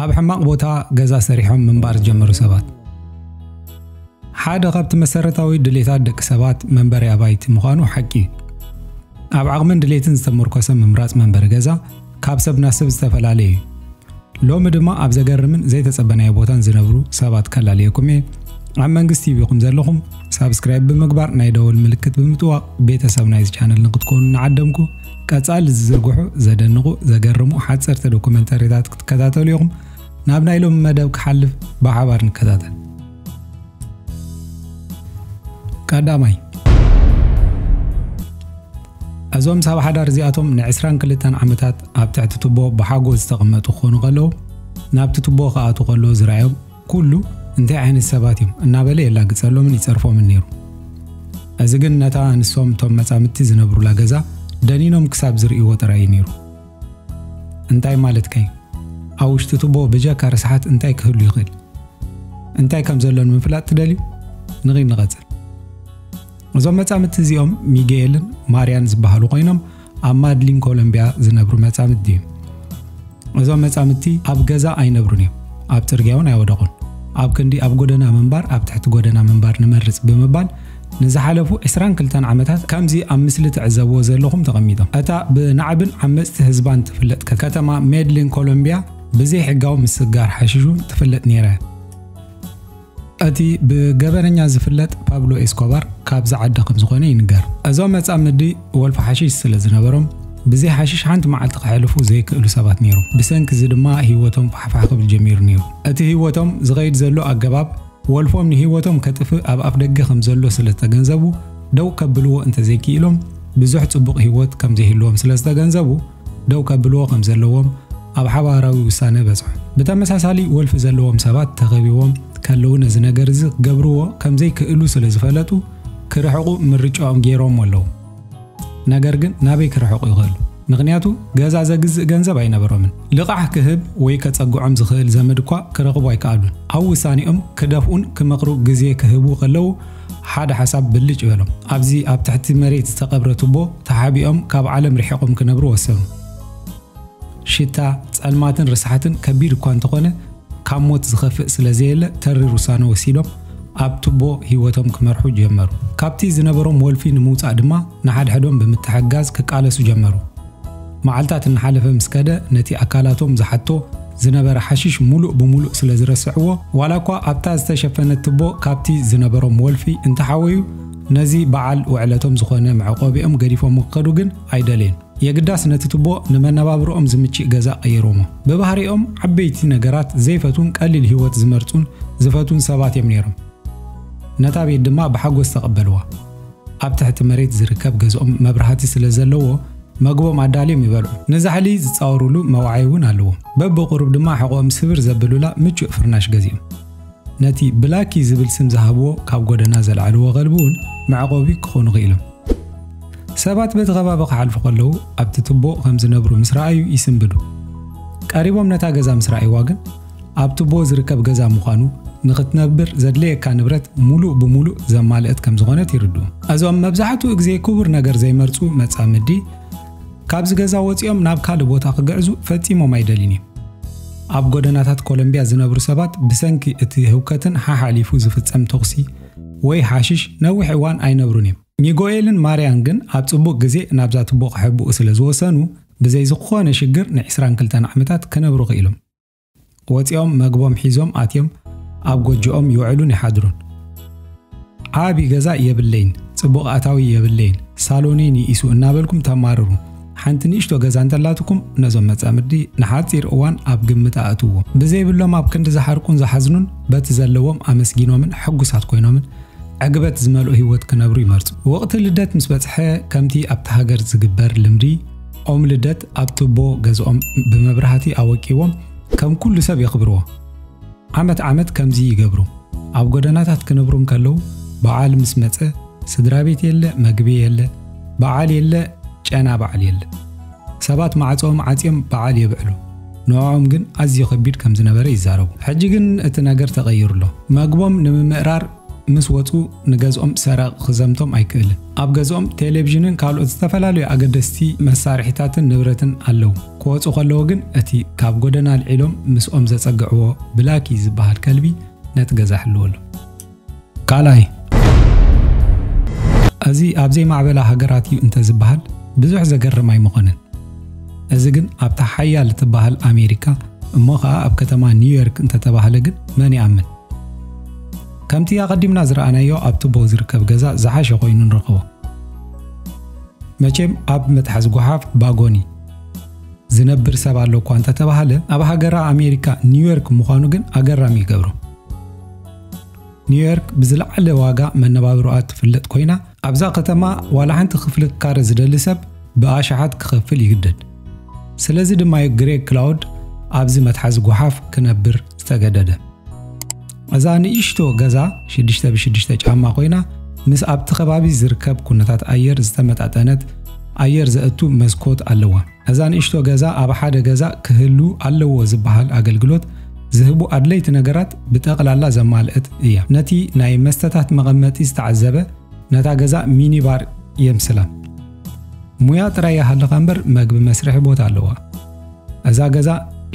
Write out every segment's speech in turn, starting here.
ኣብ ሕማቕ ቦታ ገዛ ሰሪሖም ምንባር ዝጀመሩ ሰባት ሓደ ካብቲ መሰረታዊ ድሌታት ደቂ ሰባት መንበሪ ኣባይቲ ምዃኑ ሓቂ እዩ። ኣብ ዓቕምን ድሌትን ዝተመርኮሰ ምምራፅ መንበሪ ገዛ ካብ ሰብ ናብ ሰብ ዝተፈላለየ እዩ። ሎሚ ድማ ኣብ ዘገርምን ዘይተጸበናዮ ቦታን ዝነብሩ ሰባት ከላልየኩም እየ። ኣብ መንግስት ቲቪ ኹም ዘለኹም ሳብስክራይብ ብምግባር ናይ ደወል ምልክት ብምጥዋቕ ቤተሰብ ናይዚ ቻነል ንክትኮኑ እናዓደምኩ ቀጻሊ ዝዝርግሑ ዘደንቑ ዘገርሙ ሓጸርቲ ዶኩመንተሪታት ክትከታተሉ ኢኹም። ናብ ናይ ሎሚ መደብ ክሓልፍ ብሓባር ንከታተል። ቀዳማይ እዞም ሰብ ሓዳር እዚኣቶም ንዕስራን ክልተን ዓመታት ኣብ ትሕቲ ትቦ ብሓጎስ ዝተቐመጡ ክኾኑ ከለዉ ናብቲ ትቦ ክኣቱ ከሎ ዝረኣዮም ኩሉ እንታይ ዓይነት ሰባት እዮም እናበለ የላግጸሎምን ይጸርፎምን ነይሩ። እዚ ግን ነታ ንሶም እቶም መጻምድቲ ዝነብሩላ ገዛ ደኒኖም ክሳብ ዝርእይዎ ጥራይ እዩ ነይሩ። እንታይ ማለትካ እዩ? ኣብ ውሽጢ ትቦ ብጀካ ርስሓት እንታይ ክህሉ ይኽእል? እንታይ ከም ዘሎ ንምፍላጥ ትደልዩ? ንኺድ ንቐጽል። እዞም መጻምድቲ እዚኦም ሚጌልን ማርያን ዝበሃሉ ኮይኖም ኣብ ማድሊን ኮሎምቢያ ዝነብሩ መጻምድቲ እዮም እዞም መጻምድቲ ኣብ ገዛ ኣይነብሩን እዮም ኣብ ጽርግያ እውን ኣይወደቑን ኣብ ክንዲ ኣብ ጎደና ምንባር ኣብ ትሕቲ ጎደና ምንባር ንመርጽ ብምባል ንዝሓለፉ 22 ዓመታት ከምዚ ኣብ ምስሊ ትዕዘብዎ ዘለኹም ተቐሚጦም እታ ብናዕብን ዓመፅቲ ህዝባን ትፍለጥ ከተማ ሜድሊን ኮሎምቢያ ብዘይ ሕጋዊ ምስጋር ሓሽሹን ትፍለጥ ነይራ እያ እቲ ብገበነኛ ዝፍለጥ ፓብሎ ኤስኮባር ካብዚ ዓዲ ከም ዝኾነ ይንገር። እዞም መጻምዲ ወልፊ ሓሽሽ ስለ ዝነበሮም ብዘይ ሓሽሽ ሓንቲ መዓልቲ ከሕልፉ ዘይክእሉ ሰባት ነይሮም። ብሰንኪ እዚ ድማ ህይወቶም ፋሕፋሕ ክብል ጀሚሩ ነይሩ። እቲ ህይወቶም ዝኸይድ ዘሎ ኣገባብ ወልፎም ንህይወቶም ከጥፍእ ኣብ ኣፍደገ ከም ዘሎ ስለ ዝተገንዘቡ ደው ከብልዎ እንተዘይክኢሎም ብዙሕ ጽቡቕ ህይወት ከም ዘይህልዎም ስለ ዝተገንዘቡ ደው ከብልዎ ከም ዘለዎም ኣብ ሓባራዊ ውሳነ በጽሑ። ብተመሳሳሊ ወልፊ ዘለዎም ሰባት ተኸቢቦም ከለዉ ነዚ ነገር እዚ ክገብርዎ ከም ዘይክእሉ ስለ ዝፈለጡ ክርሕቑ ምርጫኦም ገይሮም ኣለዉ። ነገር ግን ናበይ ክርሕቑ ይኽእሉ? ምኽንያቱ ገዛ ዘግዝእ ገንዘብ ኣይነበሮምን። ልቓሕ ክህብ ወይ ከጸግዖም ዝኽእል ዘመድ እኳ ክረኽቡ ኣይከኣሉን። ኣብ ውሳኔኦም ክደፍኡን ክመኽሩ ግዜ ክህቡ ከለዉ፣ ሓደ ሓሳብ ብልጭ በሎም። ኣብዚ ኣብ ትሕቲ መሬት ዝተቐብረ ቱቦ ተሓቢኦም ካብ ዓለም ርሒቖም ክነብሩ ወሰኑ። ሽታ፣ ጸልማትን ርስሓትን ከቢድ እኳ እንተኾነ ካብ ሞት ዝኸፍእ ስለ ዘየለ ተሪር ውሳነ ወሲዶም ኣብ ቱቦ ህይወቶም ክመርሑ ጀመሩ። ካብቲ ዝነበሮም ወልፊ ንምውጻእ ድማ ንሓድሕዶም ብምትሕግጋዝ ክቃለሱ ጀመሩ። መዓልታት እናሓለፈ ምስ ከደ ነቲ ኣካላቶም ዝሓቶ ዝነበረ ሓሽሽ ሙሉእ ብሙሉእ ስለ ዝረስዕዎ ዋላ እኳ ኣብታ ዝተሸፈነት ትቦ ካብቲ ዝነበሮም ወልፊ እንተሓወዩ ነዚ በዓል ውዕለቶም ዝኾነ መዕቆቢኦም ገዲፎም ክኸዱ ግን ኣይደልየን። የግዳስ ነቲ ትቦ ንመነባብሮኦም ዝምችእ ገዛ ቀይሮሞ። ብባህሪኦም ዓበይቲ ነገራት ዘይፈትዉን ቀሊል ህይወት ዝመርጹን ዝፈትዉን ሰባት እዮም ነይሮም። ነታ ቤት ድማ ብሓጎስ ተቐበልዋ። ኣብ ትሕቲ መሬት ዝርከብ ገዝኦም መብራህቲ ስለ ዘለዎ መግቦም ኣዳልዮም ይበልዑ። ንዛሕሊ ዝጻወሩሉ መውዓዪ እውን ኣለዎም። በብቝሩብ ድማ ሕቖኦም ስብር ዘብሉላ ምቹእ ፍርናሽ ገዚኦም። ነቲ ብላኪ ዝብል ስም ዝሃብዎ ካብ ጐደና ዘልዓልዎ ኸልቢ እውን መዕቆቢ ክኾኑ ክኢሎም። ሰባት በቲ ኸባቢ ክሓልፉ ከለዉ ኣብቲ ትቦ ኸም ዝነብሩ ምስ ረኣዩ ይስንብዱ። ቀሪቦም ነታ ገዛ ምስ ረኣይዋ ግን ኣብ ቱቦ ዝርከብ ገዛ ምዃኑ፣ ንኽትነብር ዘድልየካ ንብረት ምሉእ ብምሉእ ዘማልእት ከም ዝኾነት ይርድኡ። እዞም መብዛሕትኡ ግዜ ክቡር ነገር ዘይመርጹ መጻምዲ፣ ካብዚ ገዛ ወጺኦም ናብ ካልእ ቦታ ክግዕዙ ፈጺሞም ኣይደልዩን እዮም። ኣብ ጎደናታት ኮሎምብያ ዝነብሩ ሰባት ብሰንኪ እቲ ህውከትን ሓሓሊፉ ዝፍጸም ተዅሲ ወይ ሓሽሽ ነዊሕ እዋን ኣይነብሩን እዮም። ሚጎኤልን ማርያን ግን ኣብ ጽቡቕ ግዜ ናብዛ ቱቦ ክሕብኡ ስለ ዝወሰኑ፣ ብዘይ ዝኾነ ሽግር ንዕስራን ክልተን ዓመታት ክነብሩ ክኢሎም። ወፂኦም መግቦም ሒዞም ኣትዮም ኣብ ጎጆኦም ይውዕሉን ይሓድሩን። ዓቢ ገዛ የብለይን፣ ጽቡቕ ኣታዊ የብለይን፣ ሳሎነይ ንኢሱ እናበልኩም ተማርሩ። ሓንቲ ንእሽቶ ገዛ እንተላትኩም ነዞም መጻምዲ ንሓጺር እዋን ኣብ ግምት ኣእትዎ። ብዘይብሎም ኣብ ክንዲ ዝሓርቁን ዝሓዝኑን በቲ ዘለዎም ኣመስጊኖምን ሕጉሳት ኮይኖምን ዕግበት ዝመልኦ ህይወት ክነብሩ ይመርጹ። ወቕቲ ልደት ምስ በጽሐ ከምቲ ኣብቲ ሃገር ዝግበር ልምዲ ኦም ልደት ኣብ ቱቦ ገዝኦም ብመብራህቲ ኣወቂቦም ከም ኩሉ ሰብ የኽብርዎ። ዓመት ዓመት ከምዚ ይገብሩ። ኣብ ጎደናታት ክነብሩ እንከለዉ በዓል ምስ መጸ ስድራ ቤት የለ፣ መግቢ የለ፣ በዓል የለ፣ ጨና በዓል የለ። ሰባት ማዕጾኦም ዓጽዮም በዓል የብዕሉ። ንዕኦም ግን ኣዝዩ ከቢድ ከም ዝነበረ ይዛረቡ። ሕጂ ግን እቲ ነገር ተቐይሩ ኣሎ። መግቦም ንምምእራር ምስ ወጹ ንገዝኦም ሰራቒ ክዘምቶም ኣይክእልን። ኣብ ገዝኦም ቴሌቪዥንን ካልኦት ዝተፈላለዩ ኣገደስቲ መሳርሒታትን ንብረትን ኣለዉ። ክወጹ ከለዉ ግን እቲ ካብ ጎደና ኣልዒሎም ምስኦም ዘጸግዕዎ ብላኪ ዝበሃል ከልቢ ነቲ ገዛ ይሕልዎ ኣሎ። ካልኣይ፣ እዚ ኣብ ዘይማዕበላ ሃገራት እዩ እንተዝበሃል ብዙሕ ዘገርም ኣይምኾነን። እዚ ግን ኣብታ ሓያል እትበሃል ኣሜሪካ እሞ ኸኣ ኣብ ከተማ ኒውዮርክ እንተተባህለ ግን መን ይኣምን? ከምቲ ኣቐዲምና ዝረኣናዮ ኣብ ቱቦ ዝርከብ ገዛ ዝሓሸ ኮይኑ ንረኽቦ። መቼም ኣብ መትሓዚ ጓሓፍ ባጎኒ ዝነብር ሰብ ኣሎ እኳ እንተተባሃለ ኣብ ሃገራ ኣሜሪካ ኒውዮርክ ምዃኑ ግን ኣገራሚ ይገብሮ። ኒውዮርክ ብዝለዓለ ዋጋ መነባብሮኣ ትፍለጥ ኮይና ኣብዛ ከተማ ዋላ ሓንቲ ክፍሊ ክካረ ዝደሊ ሰብ ብኣሽሓት ክኸፍል ይግደድ። ስለዚ ድማዩ ግሬግ ክላውድ ኣብዚ መትሓዚ ጎሓፍ ክነብር ዝተገደደ። እዛ ንእሽቶ ገዛ ሽዱሽተ ብሽዱሽተ ጫማ ኮይና ምስ ኣብቲ ከባቢ ዝርከብ ኩነታት ኣየር ዝተመጣጠነት ኣየር ዘእቱ መስኮት ኣለዋ። ነዛ ንእሽቶ ገዛ ኣብ ሓደ ገዛ ክህሉ ኣለዎ ዝበሃል ኣገልግሎት ዝህቡ ኣድለይቲ ነገራት ብጠቕላላ ዘማልእት እያ። ነቲ ናይ መስተታት መቐመጢ ዝተዓዘበ ነታ ገዛ ሚኒባር የምስላ። ሙያ ጥራይ ይሃልኻ እምበር መግቢ መስርሒ ቦታ ኣለዋ። እዛ ገዛ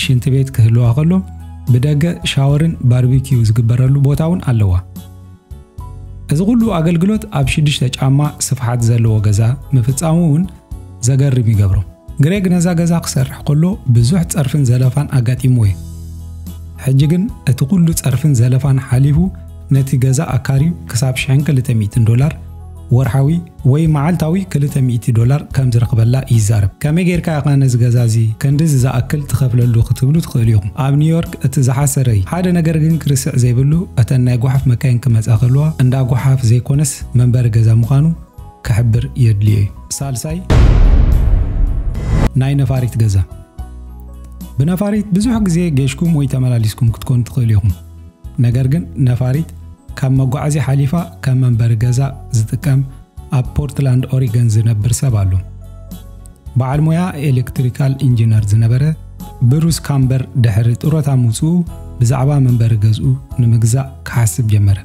ሽንቲ ቤት ክህልዋ ከሎ ብደገ ሻወርን ባርቢኪዩ ዝግበረሉ ቦታ እውን ኣለዋ። እዚ ኩሉ ኣገልግሎት ኣብ ሽዱሽተ ጫማ ስፍሓት ዘለዎ ገዛ ምፍጻሙ እውን ዘገርም ይገብሮ። ግሬግ ነዛ ገዛ ክሰርሕ ከሎ ብዙሕ ጸርፍን ዘለፋን ኣጋጢምዎ እዩ። ሕጂ ግን እቲ ኩሉ ጸርፍን ዘለፋን ሓሊፉ ነቲ ገዛ ኣካርዩ ክሳብ 1200 ዶላር ወርሓዊ ወይ መዓልታዊ ክልተ ሚእቲ ዶላር ከም ዝረኽበላ ይዛረብ። ከመይ ጌርካ ኢኻ ነዚ ገዛ እዚ ክንድዚ ዝኣክል ትኸፍለሉ ክትብሉ ትኽእሉ ኢኹም። ኣብ ኒውዮርክ እቲ ዝሓሰረ እዩ። ሓደ ነገር ግን ክርስዕ ዘይብሉ እተን ናይ ጓሓፍ መካይን ክመጻ ከለዋ እንዳ ጓሓፍ ዘይኮነስ መንበሪ ገዛ ምዃኑ ክሕብር የድልዮ እዩ። ሳልሳይ፣ ናይ ነፋሪት ገዛ። ብነፋሪት ብዙሕ ግዜ ጌሽኩም ወይ ተመላሊስኩም ክትኮኑ ትኽእሉ ኢኹም። ነገር ግን ነፋሪት ካብ መጓዓዝያ ሓሊፋ ከም መንበሪ ገዛ ዝጥቀም ኣብ ፖርትላንድ ኦሪገን ዝነብር ሰብ ኣሎ። በዓል ሞያ ኤሌክትሪካል ኢንጂነር ዝነበረ ብሩስ ካምበር ድሕሪ ጥሮታ ምውፅኡ ብዛዕባ መንበሪ ገዝኡ ንምግዛእ ክሓስብ ጀመረ።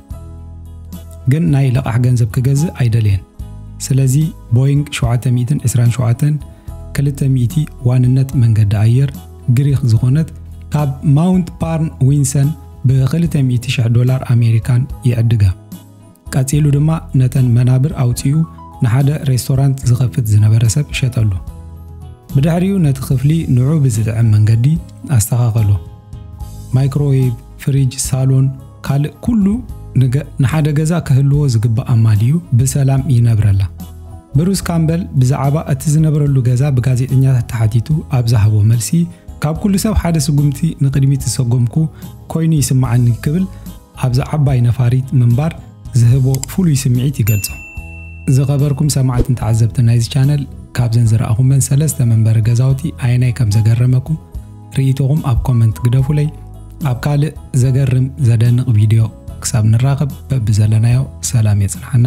ግን ናይ ልቓሕ ገንዘብ ክገዝእ ኣይደለየን። ስለዚ ቦይንግ 727 200 ዋንነት መንገዲ ኣየር ግሪኽ ዝኾነት ካብ ማውንት ፓርን ዊንሰን ብ200,000 ዶላር ኣሜሪካን ይዕድጋ። ቀጺሉ ድማ ነተን መናብር ኣውጺኡ ንሓደ ሬስቶራንት ዝኸፍት ዝነበረ ሰብ ሸጠሉ። ብድሕሪኡ ነቲ ክፍሊ ንዑ ብዝጥዕም መንገዲ ኣስተኻኸሎ። ማይክሮዌቭ፣ ፍሪጅ፣ ሳሎን፣ ካልእ ኩሉ ንገ ንሓደ ገዛ ክህልዎ ዝግባእ ኣማሊኡ ብሰላም ይነብረላ። ብሩስ ካምበል ብዛዕባ እቲ ዝነብረሉ ገዛ ብጋዜጠኛታት ተሓቲቱ ኣብ ዝሃቦ መልሲ፣ ካብ ኩሉ ሰብ ሓደ ስጉምቲ ንቕድሚት ዝሰጎምኩ ኮይኑ ይስምዓኒ ክብል ኣብዛ ዓባይ ነፋሪት ምንባር ዝህቦ ፍሉይ ስምዒት ይገልጾ። ዝኸበርኩም ሰማዕትን ተዓዘብትን ናይዚ ቻነል ካብዘን ዝረኣኹመን ሰለስተ መንበሪ ገዛውቲ ኣየናይ ከም ዘገረመኩም፣ ርኢቶኹም ኣብ ኮመንት ግደፉለይ። ኣብ ካልእ ዘገርም ዘደንቕ ቪድዮ ክሳብ ንራኸብ በብዘለናዮ ሰላም የጽንሓና።